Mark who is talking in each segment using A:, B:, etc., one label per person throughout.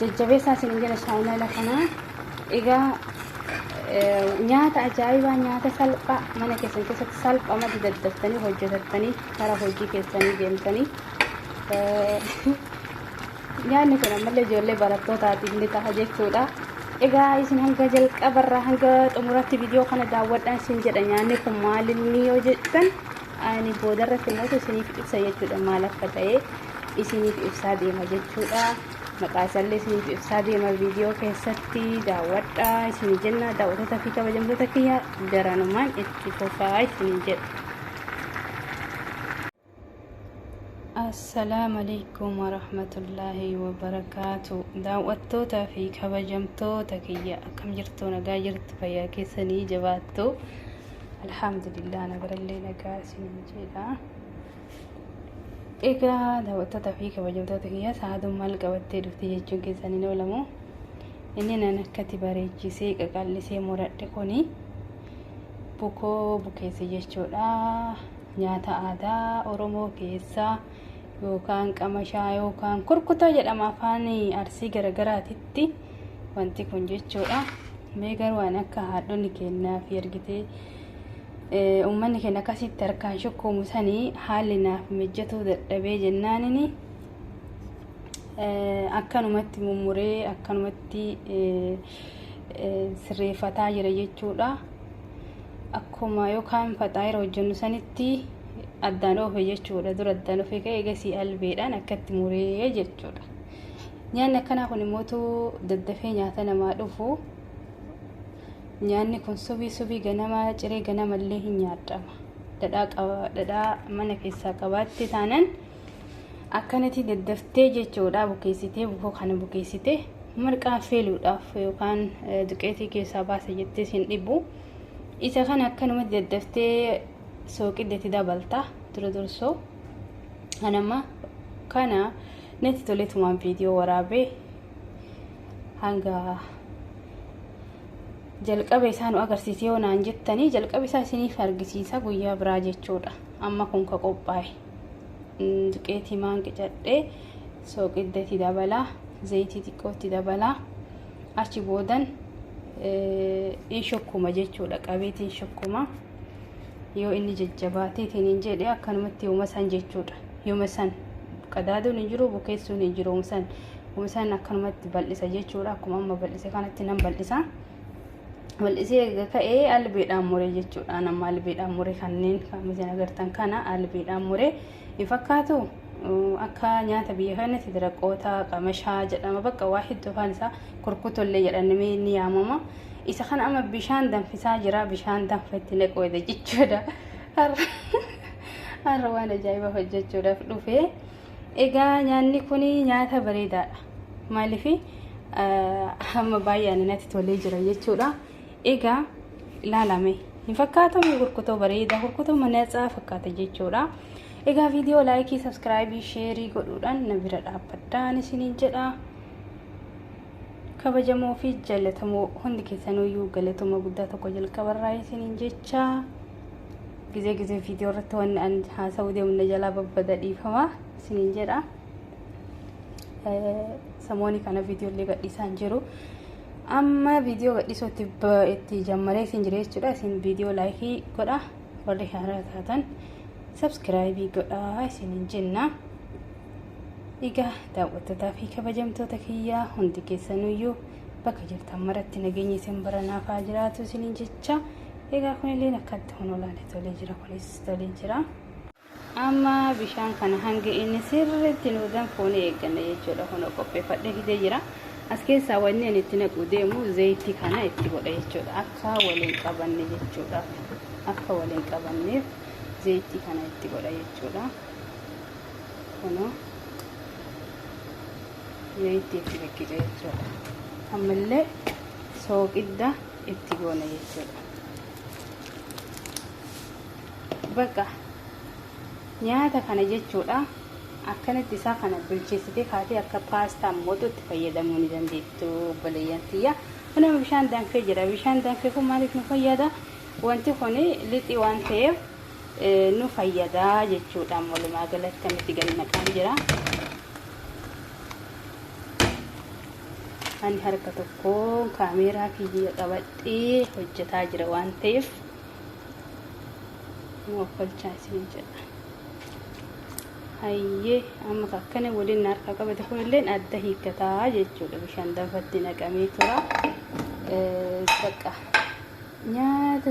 A: Jajjabeessaa isin jira chaayinaala kana. Egaa nyaata ajaa'ibaa nyaata salphaa mana keessan keessatti salphaa mati daddaftanii hojjetattanii karaa hojii keessanii deemtanii nyaanni kun ammallee ijoollee barattootaatiif ni ta'a jechuudha. Egaa isin hanga jalqabarraa hanga xumuratti viidiyoo kana daawwadhaan isin jedha nyaanni kun maalinni yoo jettan ani boodarratti immoo isiniif ibsa jechuudha maal akka ta'e isiniif ibsaa deema jechuudha. Maqaa isaallee isiniif ibsaa deema viidiyoo keessatti daawwadhaa isinii jenna daawwattoota fi kabajamtoota kiyya garanumaan itti fufaa isinii jedha. Assalaamu alaikum warahmatullaahi wabarakaatu daawwattootaa fi kabajamtoota kiyya akkam jirtu nagaa jirtu fayyaa keessanii jabaattu alhamdulillah nagarallee nagaa isin jedha Egaa daawwattoota fi kabajamtoota kiyya sa'aaduun maal qabattee dhufte jechuun keessan hin oolamu. Inni nan akkati bareechisee qaqal'isee muradhe kuni bukoo bukeesse jechuudha. Nyaata aadaa Oromoo keessaa yookaan qamashaa yookaan kurkutaa jedhama afaan arsii garagaraatitti wanti kun jechuudha. Mee garuu waan akka haadhonni keenyaa fi ergitee Uummanni keenya akkasitti harkaan shukkoomu sanii haalli naaf mijjatuu dadhabee jennaanini akkanumatti mummuree akkanumatti sirreeffataa jira jechuudha. Akkuma yookaan faxaayira hojjennu sanitti addaan oofe jechuudha. Dura addaan ofe ka'e egasii albeedhaan akkatti muree jechuudha. Nyaanni akkanaa kun immoo daddafee nyaata namaa dhufu. nyaanni kun subii subii ganamaa ciree ganamallee hin nyaadhama dhadhaa mana keessaa qabaatte taanan akkanatti daddaftee jechuudha bukeessitee bukoo kana bukeessitee marqaan feeluudhaaf yookaan duqeetii keessaa baasa jettee sin dhibu isa kana akkanumatti daddaftee sooqiddetti dabalta dura dursoo kanama kana natti toletumaan viidiyoo waraabee hanga jalqaba isaa nu agarsiise yoo naan jettanii jalqaba isaa isiniif argisiisa guyyaa biraa jechuudha amma kun ka qophaa'e duqeetii maan qicadhee sooqidda itti dabalaa zayitii xiqqoo itti dabalaa achi boodan in shokkuma jechuudha qabeetiin shokkuma yoo inni jajjabaateetiin hin jedhe akkanumatti yooma san jechuudha yooma san qadaaduun hin jiru bukeessuun hin jiru san Kumisaan akkanumatti bal'isa jechuudha. Akkuma amma bal'ise kanatti nan bal'isa. Bal'isee erga ka'ee albeedhaan muree jechuudha. Amma albeedhaan muree kanneen kan isin agartan kana albeedhaan muree hin fakkaatu. Akka nyaata biyya kanatti diraqoota qamashaa jedhama bakka waa hedduu afaan isaa kurkutollee jedhamee ni yaamama. Isa kana amma bishaan danfisaa jira. Bishaan danfa itti naqoodha jechuudha. Har'a waan ajaa'ibaa hojjechuudhaaf dhufee. Egaa nyaanni kun nyaata bareedaadha. Maaliif hamma baay'een natti tolee jira jechuudha. Egaa ilaalame hin fakkaatu kurkutoo bareeda kurkutoo manatsaa fakkaata jechuudha. Egaa viidiyoo laayikii, sabskraayibii, sheerii godhuudhaan na bira dhaabbadhaan isiniin jedha. Kabajamoo fi jaalatamoo hundi keessanuu galatoomaa guddaa tokko jalqabarraa isiniin jecha. Gizee gizee viidiyoo irratti wanni an haasa'uu deemu na jalaa babbada dhiifama isiniin jedha. Samooni kana viidiyoo illee gadhiisaa hin jiru. Amma viidiyoo gadhiisuu itti ba- itti jammaree isin jira jechuudha. Isin viidiyoo laayikii godha. Warri haaraa taatan sabskiraayibii godha isiniin jenna. Egaa daawwattootaa fi kabajamtoota kiyyaa hundi keessanuyyuu bakka jirtan maratti nageenya isin baranaaf haa jiraatu isiniin jecha. Egaa kunilleen akkatti kun olaale tolee jira kunis tolee jira. Amma bishaan kana hanga inni sirriitti nu danfuun eegganna jechuudha kun qopheeffadhee fidee jira. As keessaa wanni ani itti naquu deemu zayitii kana itti godha jechuudha akka waliin qabanne jechuudha akka waliin qabanneef zayitii kana itti godha jechuudha. Kunoo zayitii itti naqqica jechuudha. Ammallee sooqidda. itti goona jechuudha baqa nyaata kana jechuudha akkanatti isaa kana bilcheessitee kaatee akka paastaa mootuutti fayyadamuu ni dandeettu obboleeyyan tiyya kunama bishaan danfee jira bishaan danfee kun maaliif nu fayyada wanti kun lixii waan ta'eef nu fayyada jechuudha walumaa galatti kan itti gadi naqaan jira. ani harka tokkoon kaameeraa kiyya qabadhee hojjetaa jira waan ta'eef nu ofkolchaa isiniin jedha hayyee amma akkana waliin na harka qabate kunilleen adda hiikkataa jechuudha bishaan danfatti naqamee tura bakka nyaata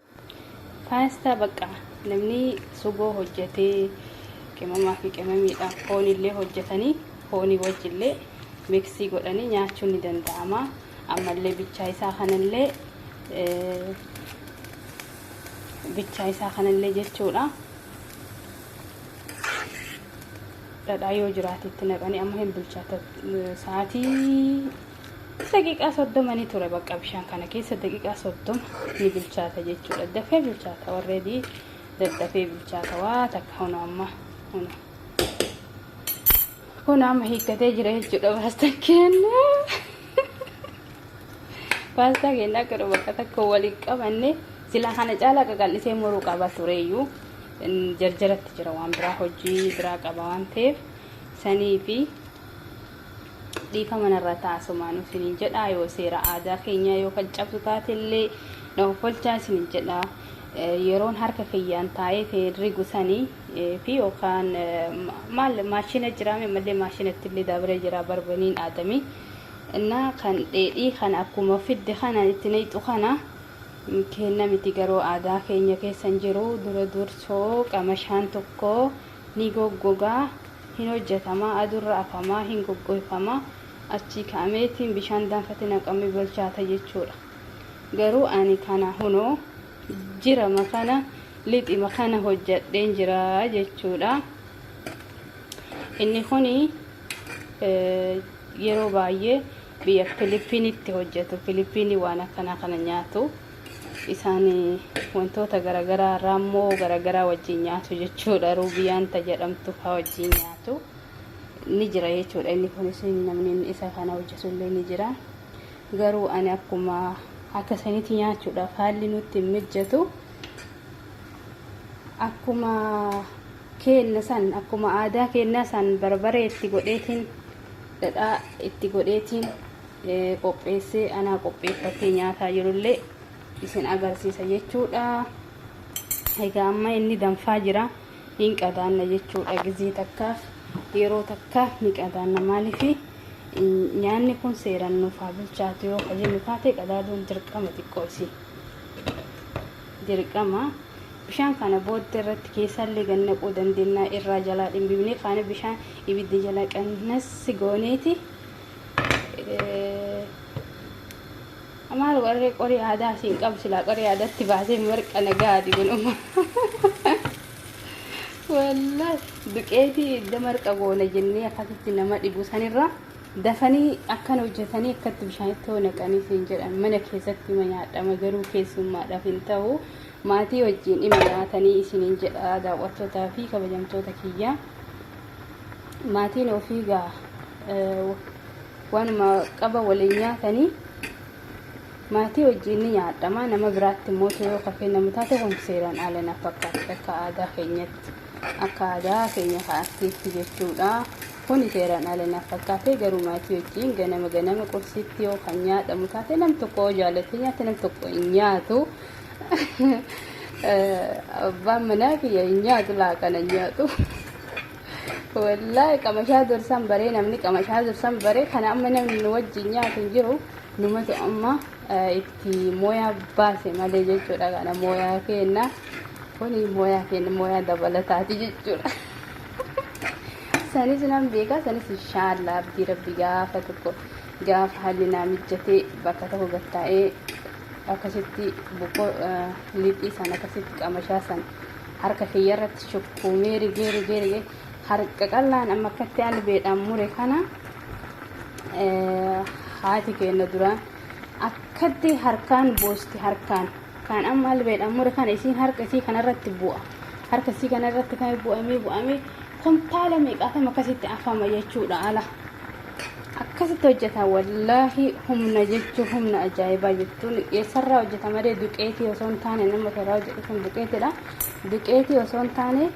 A: Paastaa baqqaa namni sugoo hojjetee qimamaa fi qimamiidhaan foon illee hojjetanii foonii wajji illee miksii godhanii nyaachuun ni danda'ama. Ammallee bichaa isaa kanallee bichaa isaa kanallee jechuudha. Dhadhaa yoo jiraate itti naqanii amma hin bilchaata sa'aatii daqiiqaa soddoma ni ture bakka bishaan kana keessa daqiiqaa soddoma ni bilchaata jechuudha dafee bilchaata warreedii daddafee bilchaata waa takka hunu amma hunu kun amma hiikkatee jira jechuudha baastan kenna baastaa kenna akka dhufu bakka takka waliin qabanne silaa kana caalaa qaqal'isee muruu qaba tureeyyuu jarjaratti jira waan biraa hojii biraa qaba waan ta'eef sanii fi Dhiifama narraa ta'a asumaanuu isiniin jedha yoo seera aadaa keenyaa yoo kan cabsu taate illee na hoffolchaa isiniin jedha yeroon harka kiyyaan taa'ee ta'een rigu sanii fi yookaan maal maashina jiraame malee maashinatti illee dabree jira barbaniin aadamii innaa kan dheedhii kana akkuma fidde kana itti nayxu kana kenna miti garuu aadaa keenya keessan jiru dura dursoo qamashaan tokko ni goggoga, hin hojjatama, adurra afama, hin goggoyfama, achii ka'ameeti bishaan danfati naqame bolchaata jechuudha. Garuu ani kana hunoo jirama kana lixima kana hojjadheen jira jechuudha. Inni kuni yeroo baay'ee biyya Filiippiinitti hojjatu. Filiippiinii waan akkanaa kana nyaatu. Isaan wantoota garagaraa raammoo garagaraa wajjin nyaatu jechuudha. Ruubiyaan ta jedhamtu faa wajjin nyaatu ni jira jechuudha. Inni kunis namni inni isa kana hojjetu illee ni jira. Garuu ani akkuma akka sanitti nyaachuudhaaf haalli nutti hin mijjatu. Akkuma keenna san akkuma aadaa keennaa san barbaree itti godheetiin dhadhaa itti godheetiin qopheessee anaa qopheeffattee nyaataa jirullee isin agarsiisa jechuudha. Egaa amma inni danfaa jira. Hin qadaanna jechuudha gizee takkaaf yeroo takka ni qadaanna maaliif nyaanni kun seeraan nuuf haa bilchaatu yoo ka jennu taate qadaaduun dirqama xiqqoo isii. Dirqama bishaan kana booddee irratti keessaallee gad naquu dandeenya irraa jalaa dhimbifnee faana bishaan ibidda jala qannassi gooneeti. Amaar warree qorii aadaa asiin qabu silaa qorii aadaatti baasee marqa nagaati kun amma. Wallahi duqeetii idda marqa goona jennee akkasitti nama dhibu sanirra dafanii akkan hojjetanii akkatti bishaanitti hoo naqanii siin jedhan mana keessatti ma nyaadhama garuu keessummaadhaaf hin ta'u Maatii wajjiin ima nyaatanii isiniin jedha daawwattoota fi kabajamtoota kiyya. Maatiin ofii gaa waanuma qaba waliin nyaatanii maatii wajjiin ni nyaadhama. Nama biraatti immoo yoo ka kennamu taate kun seeraan ala na fakkaatti akka aadaa keenyatti. Akka aadaa keenya ka artiitti jechuudha. Kuni seeraan ala na fakkaate garuu maatii wajjiin ganama ganama qursiitti yoo kan nyaadhamu taate nam tokko yoo jaalatee nyaate nam tokko hin nyaatu. Abbaan manaa kiyya hin nyaatu laaqana hin nyaatu. Wallaahi qamashaa dursan baree namni qamashaa dursan baree kana amma namni nu wajjin nyaatu hin jiru numatu amma itti mooyaa baase malee jechuudha kana mooyaa keenna kuni mooyaa keenna mooyaa dabalataati jechuudha. Sanis nan beekaa sanis inshaallah abdii rabbi gaafa tokko gaafa haalli naa mijjatee bakka tokko gattaa'ee akkasitti boqqoo lixii san akkasitti qamashaa san harka kiyya irratti shukkuumee rigee rigee rigee harka qallaan amma akkatti albeedhaan mure kana haati keenya duraan akkatti harkaan boosti harkaan kan amma albeedhaan mure kana isiin harka isii kanarratti bu'a harka isii kanarratti kan bu'amee bu'amee kuntaala meeqaatama akkasitti afama jechuudha ala. Akkasitti hojjeta wallaahi humna jechuun humna ajaa'ibaa jechuun eessarraa hojjeta malee duqeetii osoo hin taane nama irraa hojjetu kun duqeetidha. Duqeetii osoo hin taane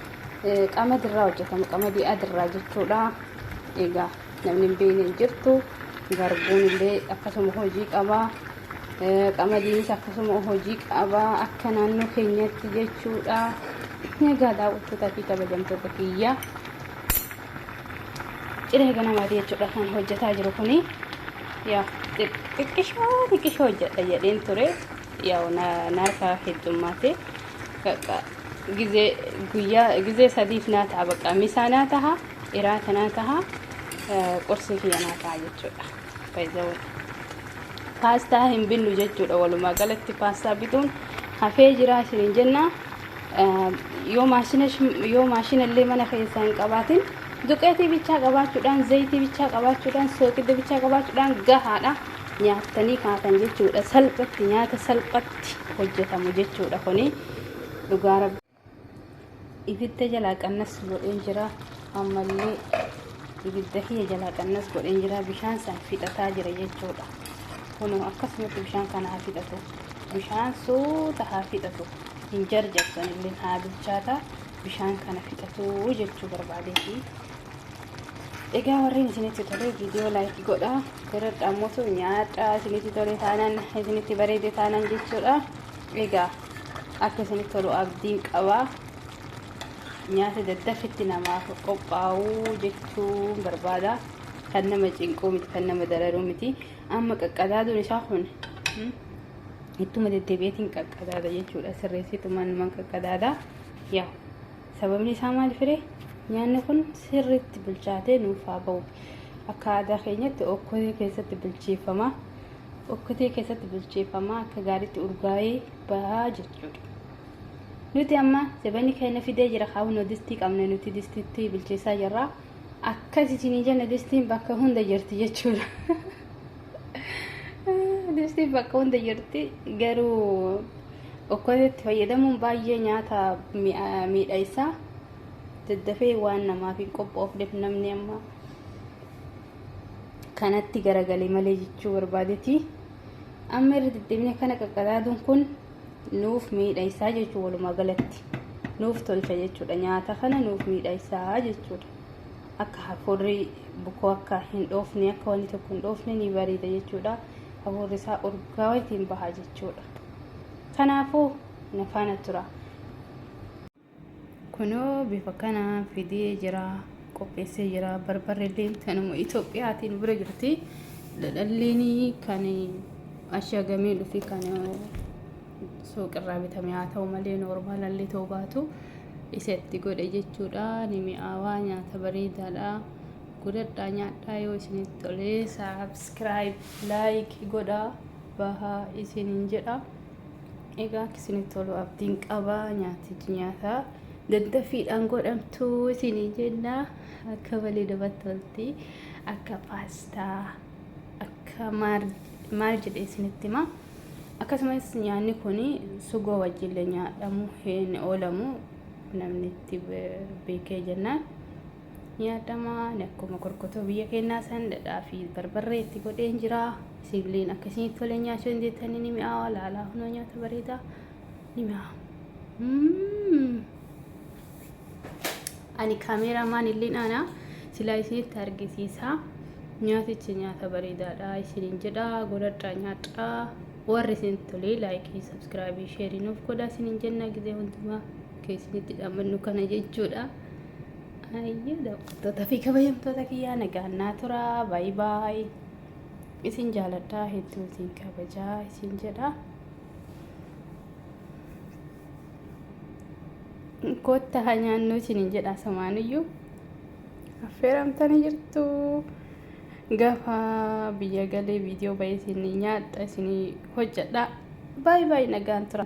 A: qamadii irraa hojjetama qamadii adirraa jechuudha. Egaa namni hin beekne hin jirtu garbuun illee akkasuma hojii qaba. Qamadiinis akkasuma hojii qaba akka naannoo keenyatti jechuudha. Egaa daawwattoota fi kabajamtoota kiyyaa. ciree ganamaati jechuudha kan hojjetaa jiru kuni yaa xiqqishoo xiqqishoo hojjedha jedheen ture yaa naarkaa heddummaate bakka gizee guyyaa gizee sadiif naa ta'a bakka misaa naa taha iraata naa taha qursii kiyya naa ta'a jechuudha. Baay'ee paastaa hin binnu jechuudha walumaa galatti paastaa bituun hafee jira isiniin jenna yoo maashina yoo maashina illee mana keessaa hin qabaatin duqeetii bichaa qabaachuudhaan zayitii bichaa qabaachuudhaan sooqidda bichaa qabaachuudhaan gahaadha nyaattanii kaatan jechuudha salphatti nyaata salphatti hojjetamu jechuudha kuni dhugaa rabbi. ibidda jalaa qannas godheen jira ammallee ibidda kiyya jalaa qannas godheen jira bishaan san fixataa jira jechuudha kun akkasumatti bishaan kana haa fixatu bishaan suuta haa fixatu hin jarjarsan illee haa bilchaata bishaan kana fixatu jechuu barbaadeeti egaa warreen isinitti tole viidiyoo laayikii godhaa gara dhaamotu nyaadhaa isinitti tole taanaan isinitti bareede taanaan jechuudha Egaa akka isinitti tolu abdiin qaba. Nyaata daddaffitti namaaf qophaa'uu jechuun barbaada. Kan nama cinquu miti, kan nama dararuu miti. Amma qaqqadaaduun isaa kun hmm, ittuma deddeebi'eetiin qaqqadaada jechuudha. Sirreessitumaan numan qaqqadaada. Yaa sababni isaa maal firee? Nyaanni kun sirriitti bilchaatee nuuf haa ba'u. Akka aadaa keenyatti okkotee keessatti bilcheeffama. okkotee keessatti bilcheeffamaa akka gaariitti urgaa'ee bahaa jechuudha. Nuti amma zabanni keenya fidee jira kaawunoo distii qabna nuti distiitti bilcheessaa jirra. Akkas isinii jenna distiin bakka hunda jirti jechuudha. Distiin bakka hunda jirti garuu okkoteetti fayyadamuun baay'ee nyaata miidha isaa daddafee waan namaaf hin qophoofneef namni amma kanatti garagale malee jechuu barbaadeti amma irra deddeebine kana qaqqadaaduun kun nuuf miidhaysaa jechuu walumaa galatti nuuf tolcha jechuudha nyaata kana nuuf miidhaysaa jechuudha akka hafuurri bukoo akka hin dhoofne akka wanni tokko hin dhoofne ni bareeda jechuudha hafuurri isaa urgaawaa ittiin bahaa jechuudha kanaafuu na faana tura. Kunoo bifa kanaan fidee jira, qopheessee jira. Barbarreelleen tanuma Itoophiyaatii nu bira jirti. Dhadhalleen kan ashagamee dhufi kan suuqirraa bitame haa ta'u malee noormaalallee ta'uu baatu isa itti godhe jechuudha. Ni mi'aawaa nyaata bareedaadha. Godhadhaa nyaadhaa yoo isinitti tolee saabskiraayib laayik godhaa bahaa isiniin jedha. Egaa akka isinitti tolu abdiin qaba nyaatichi nyaata daddaffiidhaan godhamtu isinii jenna akka malee namatti tolti akka paastaa akka maal maal jedhe isinitti hima akkasumas nyaanni kun sugoo wajjillee nyaadhamu hin oolamu namni itti be- beekee jennaan ni yaadama ani akkuma korkotoo biyya keenyaa san dhadhaa fi barbarree itti godheen jira sibiliin akka isinitti tole nyaachuu dandeettanii ni mi'aawa laalaa hunoo nyaata bareedaa ni mi'aawa Mm. ani kaameeraa maan illeen ana silaa isinitti argisiisa nyaatichi nyaata bareedaadha isiniin jedha godhadhaa nyaadhaa warri isin tolee laayikii sabskraabii sheerii nuuf godhaa isiniin jenna gizee hundumaa keessanitti dhammannu kana jechuudha Ayyuu daawwattoota fi kabajamtoota kiyyaa nagaan naa tura baay baay isin jaaladhaa hedduu isin kabajaa isin jedha. Kootta haa nyaannuu isiniin jedha samaanuyyuu affeeramtanii jirtu. Gafa biyya galee viidiyoo bayii isin nyaadha isin hojjedha. Baay baay nagaan tura.